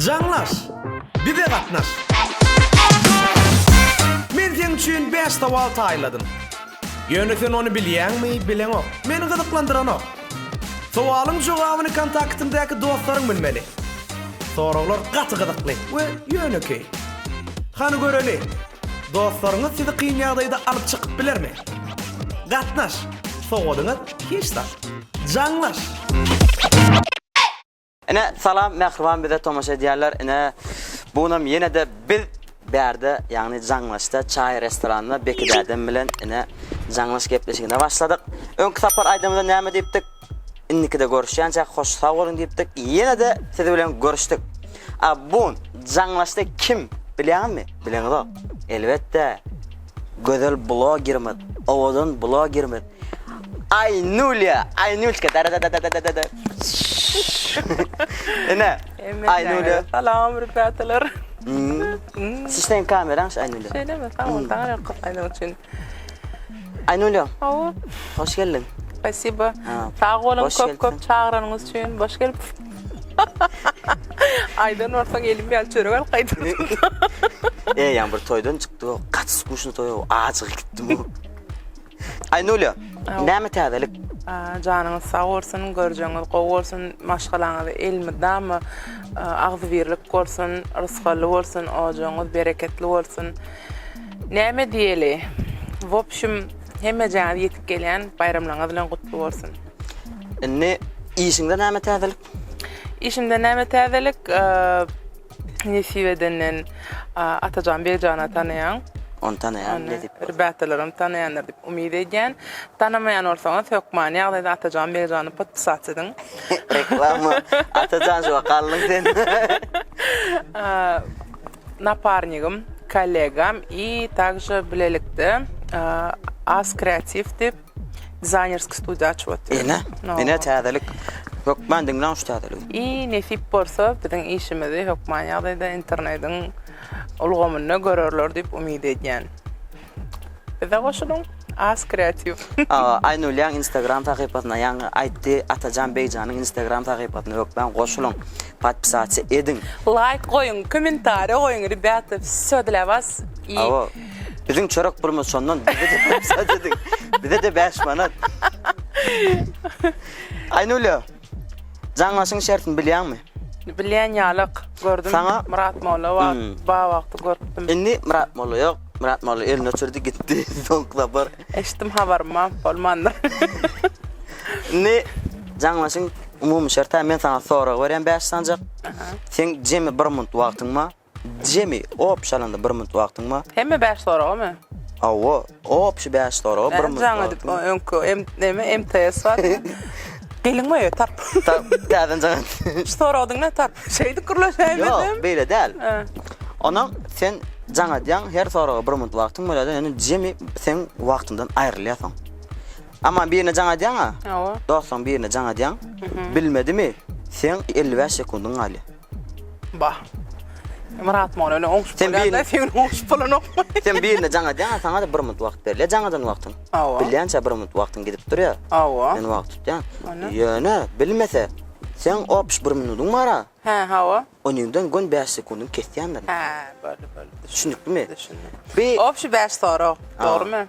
Jaňlaş! Bize gatnaş! Men seň üçin bäş sowal taýladym. Ýöne sen ony bilýäňmi, bileňok. Meni gyzyklandyranok. Sowalyň jogabyny kontaktyňdaky dostlaryň bilmeli. Soraglar gaty gyzykly we ýönekeý. Hany göreli! Dostlaryňyz sizi kyn ýagdaýda alyp çykyp bilermi? Gatnaş! Sowadyňyz hiç zat. Jaňlaş! Ine salam mähriban bize tomaşa edýärler ine bunam ýenede biz bärde ýagny jaňlaşda çaý restoranynda Beki dädem bilen ine jaňlaş gepleşigine başladyk öňki sapar aýdymyda näme diýipdik Indikide görüşýänçäk hoş sag boluň diýipdik. Ýene-de siz bilen görüşdik. A bun jaňlaşdy kim bilýäňizmi? Bileňizok. Elbetde. Gözel blogerimiz, owadan blogerimiz Aýnulýa, Aýnulçka da da da da da da. Ene. Aýnulýa. Salam rüpatalar. Siz sen kameranyň Aýnulýa. Şeýlemi? Sag bol. Saňa köp aýdym üçin. Aynulya. Awa. Hoş geldin. Spasibo. Sag bolun köp köp çagyranyňyz üçin. Hoş gelip. Aydan bolsa gelim ýaly çörek alyp gaýdyp. E ýan bir toýdan çykdy o. Gaç skuşny toý o. Ajygy gitdi bu. Aynulya. Näme täzelik? Janyňyz sag bolsun, görjeňiz gowy bolsun, maşgalaňyz elmydama agzybirlik bolsun, rysgally bolsun, ojagyňyz bereketli bolsun. Näme diýeli. Wopşum hemmejaňyz ýetip gelýän baýramlaryňyz bilen gutly bolsun. Indi işiňde näme täzelik? Işimde näme täzelik? Nesip edenden Atajan Begjana tanaýaň. Ony tanaýan nesip. Rebetalaram tanaýandyr diýip umyt edýän. Tanamaýan bolsaňyz hökman ýagdaýda Atajan Begjany podpisat ediň. Reklama. Atajan şu wagt galdyň sen. naparnigim, kollegam i takže bilelikde as kreatiw dip dizaýnerskiý studiýa açyp otyrys. Ine, ine täzelik. Hökman diňläň şu täzeligi. I nesip bolsa biziň işimizi hökman ýagdaýda internediň ulgamynda görerler dip umyt edýän. Bize goşulyň As kreatiw. Aýnulýaň instagram sahypasyna ýaňy aýtdy Atajan Begjanyň instagram sahypasyna hökman goşulyň podpisasiýa ediň. Laýk goýuň kommentariýa goýuň rebýata wsýo dla was i Hawa biziň çörek pulumyz şondan bize de podpisasiýa ediň bize de bäş manat Aýnulýa. Jaňlaşyň şertini bilýäňmi? Bilýän ýalyk. Gördüm. Saňa Myrat molla bar. Hmm. Bar wagty görüpdim. Indi Myrat molla ýok. Myrat molla elini öçürdi gitdi. Soňky sapar. Eşitdim habarym bolmandyr. Indi jaňlaşyň umumy şerti men saňa sorag berýän bäş sanjak. Seň jemi bir munt wagtyň bar. Jemi, op, çalanda bir minut wagtyň bar. Hemme bäş soragamy? Hawa, op, şu bäş soraga bir minut wagtyň bar. Jaň edip, öňki, em, näme, MTS barmy? Geliň we tarp. Tarp, täzeden jaň et. Şu soragdyň ne tarp? Şeýdip gürleşäýmeli. Ýok, beýle däl. Onuň sen jaň edýäň, her soraga bir minut wagtyň bolýar, ýöne jemi seň wagtyňdan aýrylýar soň. Aman birine jaň edýäň-ä? Hawa. Dostuň birine jaň edýäň. Bilmedimi, seň elli bäş sekundyň galýar. Bah. Myrat Mola öyle oňşup Sen bolýar-da, birini- sen oňşup bolanokmy? Sen birine jaň edýäň, saňa da bir minut wagt berilýär jaň eden wagtyň. Hawa. Bilýänçä bir minut wagtyň gidip durýar. Hawa. Men wagt tutýan. Ana. Ýöne bilmese, sen opş bir minutyň bar-a, Hä, hawa. onuňdan gön bäş sekundyň kesýändirin. Hä, boldy, boldy. Düşündikmi? Düşündim. Bi- Opşy bäş sorag, dogrumy?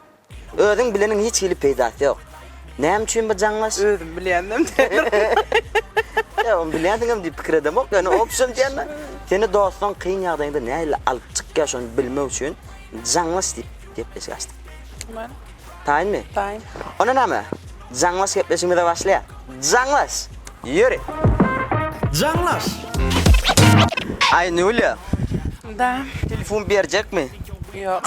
Özüň bileniň hiç hili peýdasy ýok. Näme üçin bu jaňlaş? Özüm bilýändim diýerdim. Ýa ony bilýändiňem diýip pikir edemok, ýöne opşon diýende seni dostuň kyn ýagdaýynda nähili alyp çykýar şony bilmek üçin jaňlaş diýip gepleşik açdyk. Tamam. Taýynmy? Taýyn. Onda näme? Jaňlaş gepleşigimize başlaýar. Jaňlaş! Ýöri! Jaňlaş! Aýnulýa! Da. Telefon berjekmi? Ýok.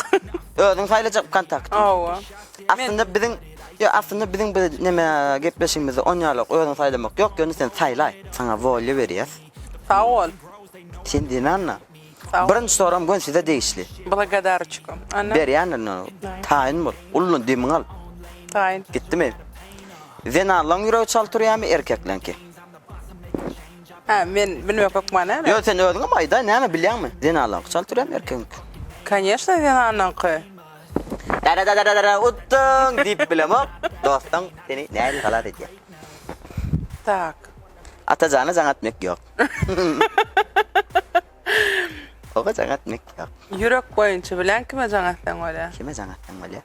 Özüň saýlajak wkontakt. Hawa. Aslynda biziň Ýok, aslynda biziň bu näme gepleşigimizde on ýalok, özüň saýlamak ýok, ýöne sen saýlaý. Saňa wolýa berýäs. Sag bol. Sen diýmända. Birinji soram gön size degişli. Blagodaroçko. Ana. Berýändir indi ony. Taýyn bol. Ullaň demiňi al. Taýyn. Gitdimi? Zenanlaň ýüregi çal turýamy erkekleňki? Hä, men bilmek hökman näme? Ýöne sen özüňem aýdaý, näme bilýäňmi? Zenanlaňky çal türem erkegiňki? Kanyesno zenanlaňky. Dara-dara-dara-dara utdyň diýip bilemok. Dostuň seni nädil halas edýär? Tak. Ata jana jaň etmek ýok. Oba jaň etmek ýok. Ýürek boýunça bilen kime jaň etseň bolýar? Kime jaň etseň bolýar?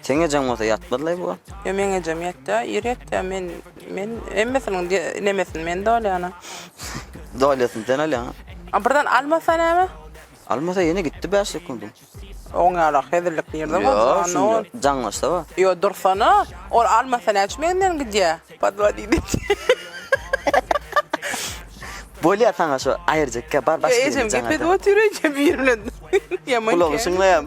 Seň ejeň bolsa ýatmazlaý bu. Ýo meň ejem ýatýa ir ýatýa men men hemmesiniň nemesini men dolýana. Dolýasyn sen alýaň. A birden almasa näme? Almasa ýene gitdi bäş sekundyň. Oň ýaly hezillik nirde bar jan o. Jaňlaşsa ba. Ýo dursana ol almasa näçe menden gidýa. Padwa diýdi. Bolýa saňa şu aýyrjak bar başga. Ejem gepedip otyr ejem ir bilen. Ýaman. Gulagy şyňlaýam.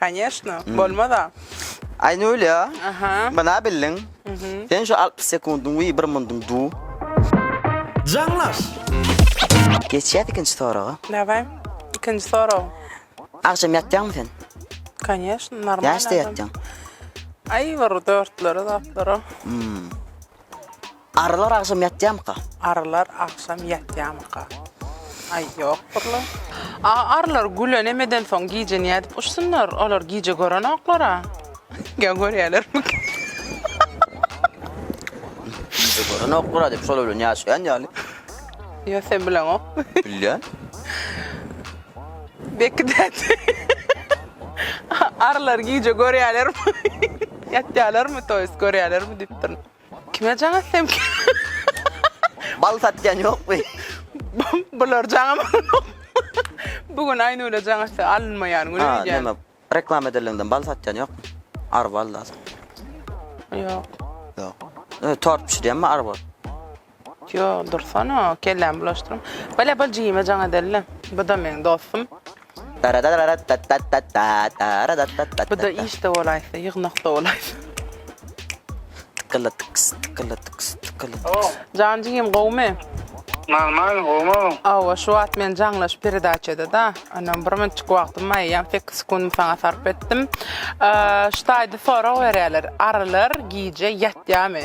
Koneşno, bolmaz-a. Aýnulya, bina bildiň. Sen şu altmyş sekundyň wiý bir mundyň du. Jaňlaş! Geçýäs ikinji soraga. Daway, ikinji sorag. Agşam ýatýaňmy sen? Koneşno, normalny. Näçede ýatýaň? Aý bir dörtlere, zatlara. Arrylar agşam ýatýamyka? Arrylar agşam ýatýamyka? Aý, ýokdurlar. A arrylar güle nämeden soň gije nädip uçsunlar? Olar gije görenoklar-a. Ýa görýärlermika? Gije görenoklar-a diýip, şolar bilen ýaşaýan ýaly. Ýa sen bileňokmy? Bilýän. Bekgi däde, arrylar gije görýärlermi? Ýatýarlarmy, toýs görýärlermi diýipdirin. Kime jaň etsem ki? Bal satýan ýokmy? Bular jaň amanok. Bu gün Aýnura jaň etse alynmaýan güni öýdýän. Näme, reklama edelinden bal satýan ýokmy? Ar bal da sat. Ýok. Ýok. Tort bişirýänmi ar bal? Ýok dursana kellämi bulaşdyrma. Bile bol jigime jaň edeli. Buda meň dostum. Buda işde bolaýsa ýygnakda bolaýsa. Tykylytyks tykylytyks tykylytyks. Jan jigim gowmy. Normal gowmy. Awa şu wagt men jaňlaş peredaçada da onam bir minutjyk wagtym bar eýýäm sekiz sekundymy saňa sarp etdim. Şu taýda sorag berýäler arylar gije ýatýamy.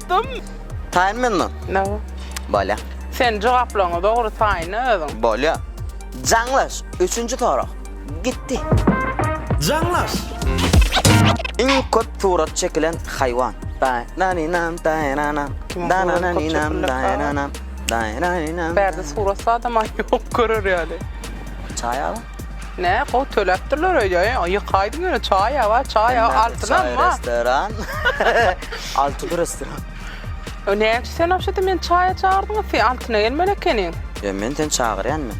Dym. Taýyn menmi? No. Bolýa. Sen jogaplaryňy dogry taýynla özüň. Bolýa. Jaňlaş, üçünji sorag. Gitdi. Jaňlaş! Iň köp surat çekilen haýwan. Daýnanynam, daýnanam, danananynam, daýnanam, daýnanynam. Bärde surat zadam-a ýok, görer ýaly. Çaý alyň. Ne gowy töläpdirler öýde. Ýykaýdyň ýöne çaý ýa çaý ýa altynam bar. Restoran. Altyn restoran. O ne üçin sen obşedi men çaýa çagyrdyň, sen altyna gelmeli ekeniň. Ýa men seni çagyrýan men.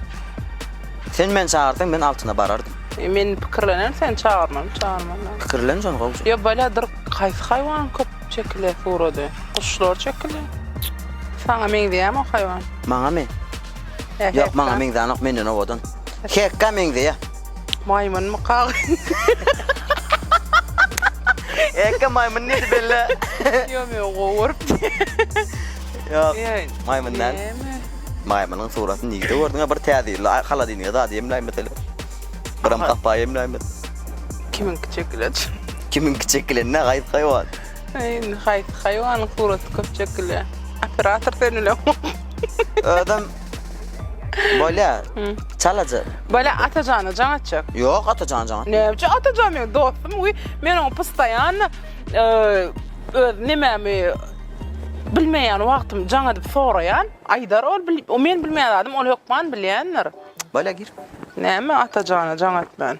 Sen meni çagyrsaň men altyna barardym. E men pikirlenem sen çagyrmaly, çagyrmaly. Pikirlen şony gowja. Ýa baladyr haýsy haýwan köp çekile surady? Guşlar çekile. Saňa meňzeýämi o haýwan? Maňamy? Ýok maňa meňzänok menden owadan. Hekka meňzeýä. Maýmynmy kagyz? Hekka maýmyn diýdi belle. Ýok men gowy görüpdi. Ýok. Maýmyn däl. Maýmynyň suratyny nigde gördüňä bir täzeli haladinige zady ýemläý mesele. Biram gapa ýemläý mesele. Kimiňki çekilen? Kimiňki çekilen ne gaýyp haýwan. Indi haýsy haýwanyň suraty köp çekilýär? Operator sen bilen. Özüm Bolya. Çalaca. Bolya Atajana can atacak. Yok Atacan can. Ne yapacak Atacan benim dostum. Uy, men onu pıstayan e, öz nememi bilmeyen vaktim can edip sorayan. Aydar ol, o men bilmeyen adım, ol hökman bilendir. Bolya gir. Neme Atajana can at ben.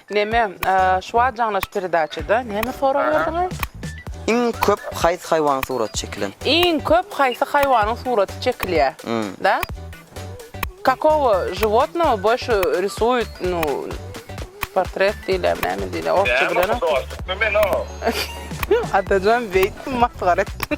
Neme şuwagt jaňlaş peredaçada neme sorag berdiňiz? Iň köp haýsy haýwanyň suraty çekilen? Iň köp haýsy haýwanyň suraty çekilýär? Da? Kakowo žiwotnowo boýşy risuýut nu portret diýilýärmi näme diýilýär orsça bilenok. Näme dostlukmy men o? Atajan beýtdim masgara etdim.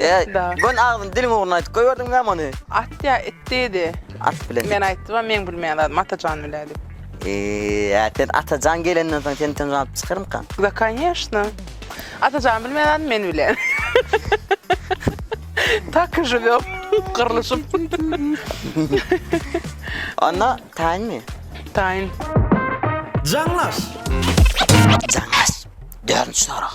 Eee Da. gön agzyny diliň ugruna aýdyp goýberdiň näme ony? At ýa it diýdi. At bilen. Men aýtdym-a meň bilmeýän zadym Atajan bile diýip. Eee äpet Atajan gelenden soň seni tynç alyp çykarmyka? Da kanyýeşna. Atajan bilmeýän zadym men bilen. Tak i živýom gyrlyşyp. Onda taýynmy? Taýyn. Jaňlaş! Jaňlaş. Dördünji sorag.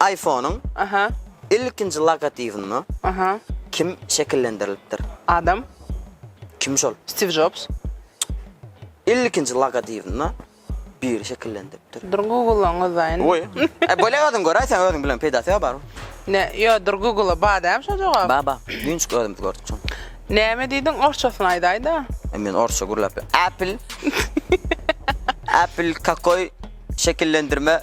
Aýfonyň ilkinji logotibini kim şekillendirilipdir? Adam. Kim şol? Stiw Jobs. Ilkinji logotibini biri şekillendiripdir. Dur Google-laň özaýyn. Goý. E bölek adam göräý sen özüň bilen peýdasy ýok baryň. Ne, ýo dur Google-a badäm şo jogap. Ba ba, düýnçik özümiz gördük şony. Näme diýdiň orsçasyny aýdaýda. E men orsça gürläp ýa. Apple. Apple kakoý şekillendirme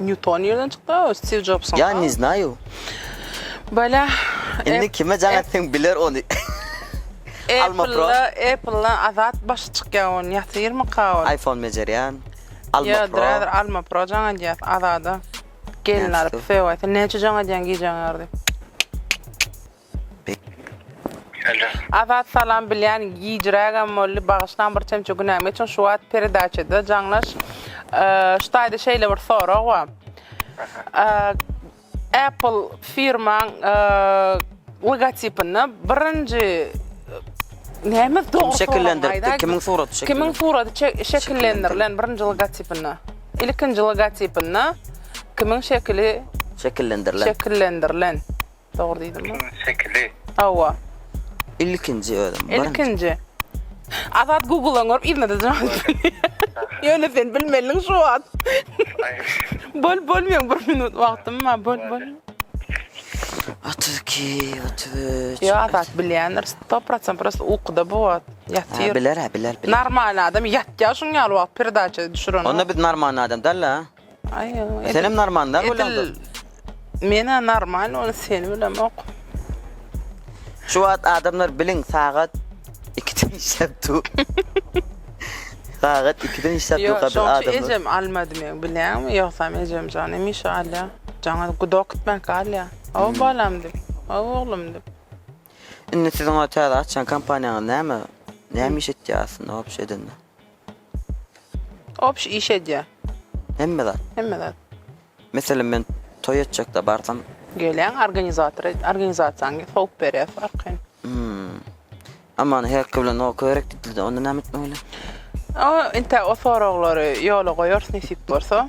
Nýuton nirden çykdy o Stiw Jobson. Ya ne znayou. Bala. Indi kime jaň etseň biler ony. Alma pro. Apple azat başy çykýa on ýatyrmyka ol. Iphone bejerýan. Alma pro. Yo drader alma pro jaň edýäs azada. Gelin alyp söýäse näçe jaň edýäň gijäň ýardy. Alo. Azat salam bilýän gijrägem boldy bagyşlaň bir çemçe günäm geçiň şu wagt peredaçada jaňlaş ştaýda şeýle bir sorag bar Apple firmaň logotipinde birinji näme dogry sorag aýdaý kimiň suraty kimiň suraty şekillendirilen birinji logotipinde ilkinji logotipinde kimiň şekili şekillendirilen şekillendirilen Dogry diýdim mi? Ikinji şekili. Hawa. Ilkinji özüm. birinji. Ilkinji. Azat Google-dan görüp yzynada jogap berýär. Ýöne sen bilmeliň şu wagt. Aý, Böl bölmeň bir minut wagtym bar. Böl böl. 32, 33. Ýa Azat bilýändir. 100% prosta ukuda bu wagt. Ha, Ýatyr. biler, ha, biler, biler. Normal adam ýatýar şuň ýaly wagt perdaça düşüren. Onda biz normal adam däl-le. Ay, edil, Senem normal da bolanda. edil mena normal ol seni bilemok. Şu wagt adamlar biliň sagat 2-den işläp dur. sagat 2-den işläp dur Yok, gadyr şoňki adamlar. ejem almadı men bilýäňmi? Ýogsam ejem jan hemişe alýa. Jaňa guda okutmak alýa. O Hmm. balam dip, o oglum dip. Indi siziň o täze açýan kompaniýaňyz näme? Näme iş etýär aslynda wapşe edende? Obş iş edýä. Hemme zat. Hemme zat. Meselem men toý etjekde barsam. Gelýäň organizator organizasiýaň sowup berýäs arkaýyn. Aman herki bilen ok gerek diýdildi onda näme etmeli bolýa? O inte o soraglary ýola goýarys nesip bolsa.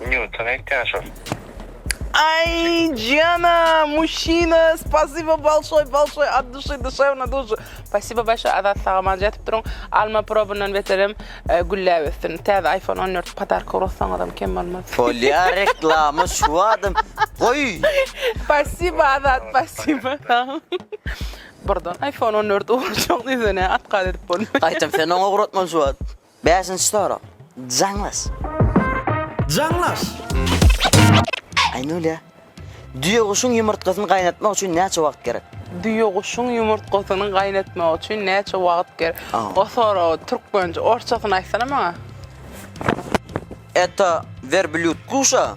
Nýuton aýtýan şol. Ay Jana, muşina, spasibo balşoy, balşoy, ad duşy, duşewna duşy. Spasibo başa azat sagaman jatyp durun. Alma probundan beterem e, gülläp ösdün. Täze iPhone 14 padarka urussaňyzam kem bolmaz. Polya reklama şu adam. Goy. Spasibo azat, spasibo. Burdan iPhone 14 uruşak düzene at gaz edip bolmaz. Aytam sen ona uğratman şu adam. Bäşinji sorag. Jaňlaş. Jaňlaş! Aýnulýa, düýeguşuň ýumurtgasyny gaýnatmak üçin näçe wagt gerek? Düýeguşuň ýumurtgasyny gaýnatmak üçin näçe wagt gerek? O soragy türkmençe, orsçasyny aýtsana maňa. Eto werblýud guşa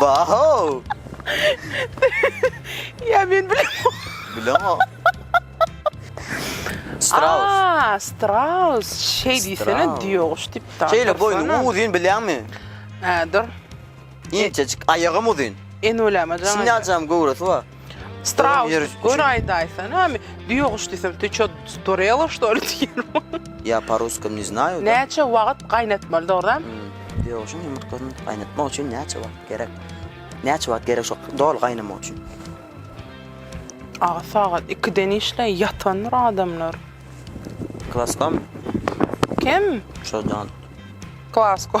Bahow! Ýa men bilemok. Bilemok. Straus. Aa, straus. Şeý diýsene, Straus. diýoguş diýip daş. Şeýle boýny dursana. uzyn bilýäňmi? Hä, dur. Inçejik, aýagam uzyn. Enweleme jaň. Siňňäjäm göwresi bar. Straus, gör aýdaýsan, ha, düýe guş diýsem, ty ço storela şto li diýerim. Ya pa ruskom ne znaju. Näçe wagt gaýnatmaly dogrudan? Hmm, düýe guşuň ýumurtgasyny gaýnatmak üçin näçe wagt gerek? Näçe wagt gerek şo doly gaýnamak üçin? Aga sagat 2-den işleý ýatandyr adamlar. Klaskam. Kim? Şo jan. Klasko.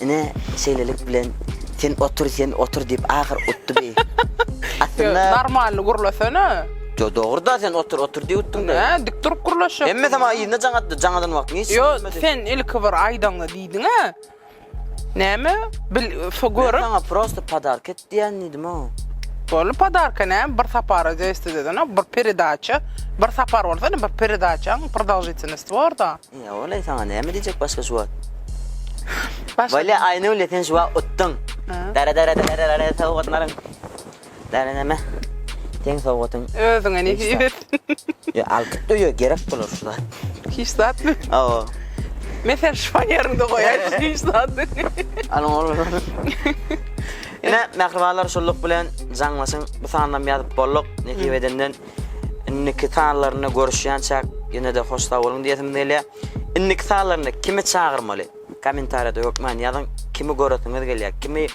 Ine, şeýlelik bilen Sen otur, sen otur diýip ahyr utdy bi. Aslynda Normalny gürlesene. Yo dogruda sen otur otur diye uttun da. He, dik durup gürleşýär. Emme sama ýerinde jaň atdy, jaň adan wagtyň hiç. Yo, sen ilki bir aýdaňda diýdiň he. Näme? Bil, so görüp. Sana prosta podark et diýen diýdim o. Bolu podarka ne? Bir sapara zesti dedin, bir peredaça. Bir sapar olsa ne bir peredaça, bir dalžitini stvorda. Ýa walaý saňa näme diýjek başga şu wagt. Walaý Aýnule sen şu wagt utdyň. Dara dara dara dara dara sowgatlaryň. Dara näme? Seň sowgatyň. Özüňe nesip etsin. Ýa alkyt öýe gerek bolar şu zat. Hiç zatmy? Hawa. Men seni şuan ýeriňde goýaýyn hiç zatmy? Alyň oglanlar. Ine mähribanlar şunluk bilen jaňlaşyň. Bu sanynam ýazyp bolduk nesip edenden. Indiki sanlarynda görüşýänçäk ýene-de hoş sag boluň diýesim gelýär. Indiki sanlarynda kimi çagyrmaly? Kommentariýada hökman ýazyň. Kimi göresiňiz gelýär? Kimi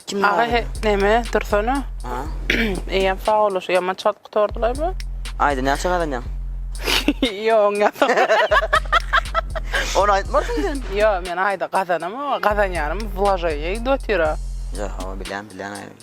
kim Aga he, neme dursana. Ha? Eýem sag bol, şu ýaman çalt gutardylar bu. Aýda näçe gazanýaň? Ýoň ýa. Ony aýtmarsyň sen. Ýo, men aýda gazanamok, gazanýanym wlaženiýa gidip otyr. Ýa, hawa bilýän, bilýän aýda.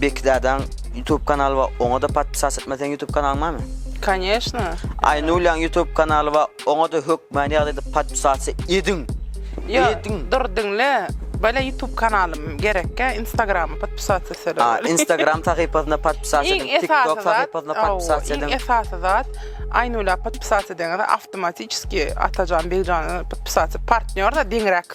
Bekzadaň YouTube kanaly bar oňada podpisas etme seň YouTube kanalyň barmy? Koneşno. Aýnulýaň YouTube kanaly bar oňada hökmany ýagdaýda podpisas ediň. Ediň. Dur diňle. Bala YouTube kanalym gerekkä Instagrama podpisas etsele. A Instagram sahypasyna podpisas ediň. TikTok sahypasyna podpisas ediň. Iň esasy zat Aýnulýa podpisas ediňde awtomatiki Atajan Begjany podpisas partnýor da deňräk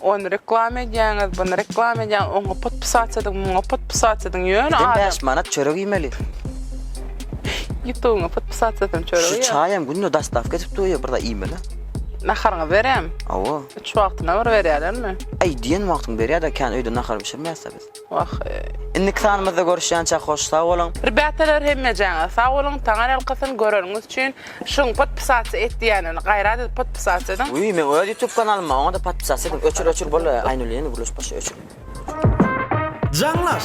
Ony reklama edýäňiz, buny reklama edýäňiz, oňa podpisat ediň, muňa podpisat ediň, ýöne adam... Sen 5 manat çörek iýmeli. Ýutugyňa podpisat edin çörek iýer. Şu çaýam günde dastavka edip durýar, bir zat iýmeli. Naharyňy berem. Awa. Üç wagtyna bir berýärlermi? Aý diýen wagtyň berýär-de, kän öýde nahar bişirmeýäs-de biz. Wah indiki sanymyzda görüşýänçäk hoş sag boluň. Rbatalar hemmejäňiz sag boluň taňar alkasyn göreniňiz üçin şuň podpisatsa et diýenini gaýrat edip podpisatsa ediň. Uýý meň öz ýutub kanalyma oňada podpisatsa ediň öçür öçür bolly aýnuly ýene gürleşip başla öçür. Jaňlaş!